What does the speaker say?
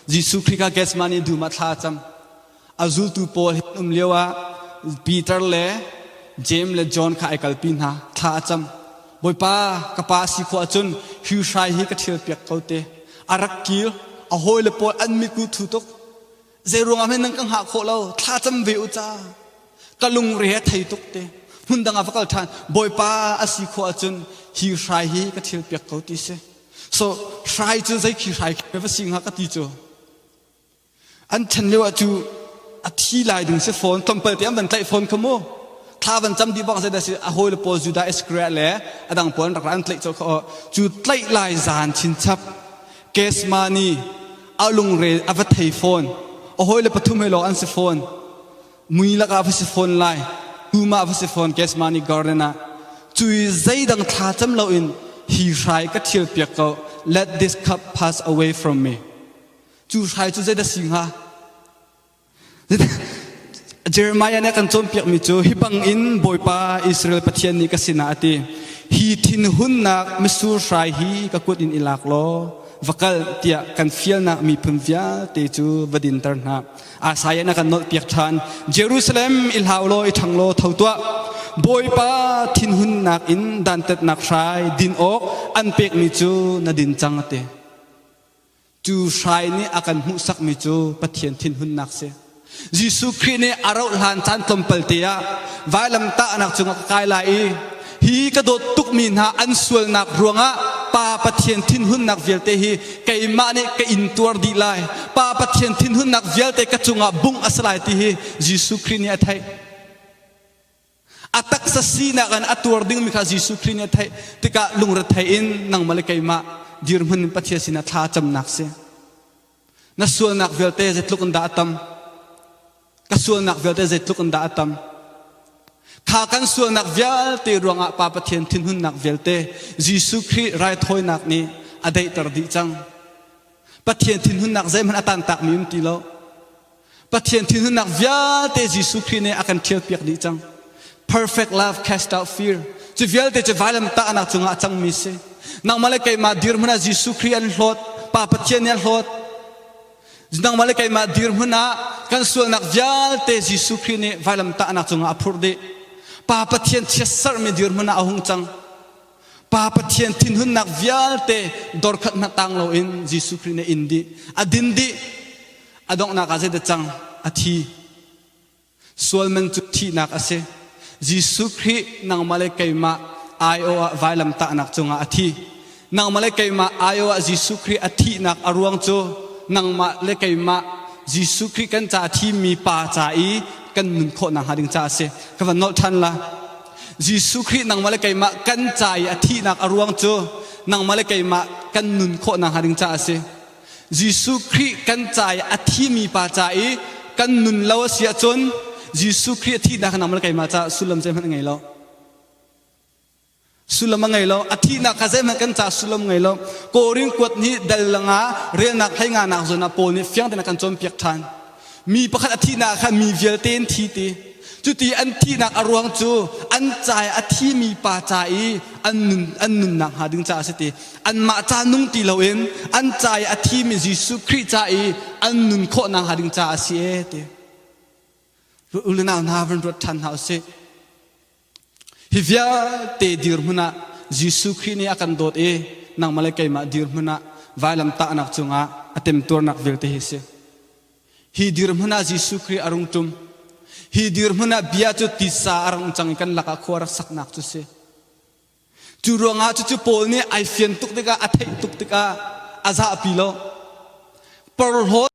Jesuh Khrih kha Gethsemane dum ah thla a cam. A zultu pawl hin um lio ah Peter le James le John kha ai kalpi hna. Thla a cam. Bawipa ka pa a si khawh ahcun hi hrai hi ka ṭhial piak ko te. A rak kir. A hawile pawl an mit ku thu tuk. Zei ruangah hme nan ka hngah khawh lo. Thla cam ve u ca. Ka lungre a thei tuk te. Hmun dang ah va kal ṭhan. Bawipa a si khawh ahcun hi hrai hi ka ṭhial piak ko ti si. so hrai cu zei khi hrai khi va si hnga ka ti cu an chen lio ah cu a thi lai ding si phone tlawmpal te an van tlaih phone kha mu thla van cam dih bang sai dasi a hawi le pawl judah iskriya le a dang pawl rak ran tlaih cho kha cu tlaih lai zan chin chap kesma ni a lungre a va thei phone a hawi le pathum he lawng an si phone mui lakah va si fawn lai tumah va si fawn Gesmani garden ah cu i zeidang thlacam loin hi hrai ka ṭhial piak ko let this cup pass away from me cu hrai cu zeidah si hnga Jeremiah nih kan cawnpiakmi cu hi bangin Bawipa Israel Pathian nih ka sinah a ti hi thin hunnak misur hrai hi ka kut in i lak law va kal tiah kan fialnak miphun vialte cu va dinter hna asai na kan nolh piak than jerusalem i hlau law i thang law tho tuah bawipa thinhun nak in dantat nak hrai din awk an pek mi cu na din cang te cu hrai nih a kan hmuhsak mi cu pathian thinhun nak si Jesuh Khrih nih a rauh hlan caan tlawmpal te ah vailam tah nak cung kai lai i Hi ka dawt tukmi hna an sualnak ruangah Pa Pathian thinhunnak vialte hi keimah nih ka intuar dih lai. Pa Pathian thinhunnak vialte ka cungah bungh a si lai ti hi Jesuh Khrih nih a theih. A taksa sinak in a tuar dingmi kha Jesuh Khrih nih a theih tikah lungrethei in nangmah le keimah dirhmun in Pathian sinah thla a camnak si. Na sualnak vialte zeitluk in dah a tam? Ka sualnak vialte zeitluk in dah a tam? Kha kan sualnak vialte ruangah Pa Pathian thinhunnak vialte Jesuh Khrih raithawinak nih a daihter dih cang. Pathian thinhunnak zeihmanh a tantakmi um ti lo. Pathian thinhunnak vialte Jesuh Khrih nih a kan ṭhialpiak dih cang. Perfect love cast out fear. Cu vialte cu vailam tahnak cungah a cangmi si. Nangmah le keimah dirhmun ah Jesuh Khrih an hlawt. Pa Pathian nih a hlawt. Nangmah le keimah dirhmun ah kan sualnak vialte Jesuh Khrih nih vailam tahnak cungah a phurh dih. Pa Pathian chiat serhmi dirhmun ah a hung cang. Pa Pathian thinhunnak vialte dorkhatnak tang loin Jesuh Khrih nih a in dih, a din dih, a donghnak ah zeidah cang? A thi. Sual man cu thihnak a si. Jesuh Khrih nangmah le keimah aiawh ah vailamtahnak cungah a thi. Nangmah le keimah aiawh ah Jesuh Khrih a thihnak a ruang cu nangmah le keimah Jesuh Khrih kan ca a thimi pa ca i kan nun khawh nakhnga ding caah a si. Ka van nolh ṭhan la. Jesuh Khrih nangmah le keimah kan ca i a thihnak a ruang cu nangmah le keimah kan nun khawhnak hnga ding caah a si. Jesuh Khrih kan ca i a thimi pa ca i kan nun lo a si ahcun Jesuh Khrih a thihnak nangmah le keimah caah sullam zeihmanh a ngei lo. Sullam a ngei lo. A thihnak kha zeihmanh kan caah sullam ngei lo. Korin kuat nih dal langa relnak hleinganak zawn ah Paul nih fiang tein a kan cawnpiak ṭhan. Mi pakhat a thihnak ah khan mi vialte an thi ti. Cuti an thihnak a ruang cu an ca i a thimi pa ca i an nun an nunnak hnga ding caah a si ti. Anmah ca nung ti loin an ca i a thimi Jesuh Khrih ca i an nun khawhnak hnga ding caah a si e ti. U le nau hna van ruat ṭhan hna u sih. Hi vialte dirhmun ah Jesuh Khrih nih a kan dawt i nangmah le keimah dirhmun ah vailam tahnak cungah a temtuarnak vialte hi si. Hi dirhmun ah Jesuh Khrih a rung ṭum. Hi dirhmun ah bia cu titsa a rung cang i kan lakah khua rak saknak cu si. Cu ruangah cucu Paul nih ai fian tuk tikah a theih tuk tikah a zahpi lo. Porhlaw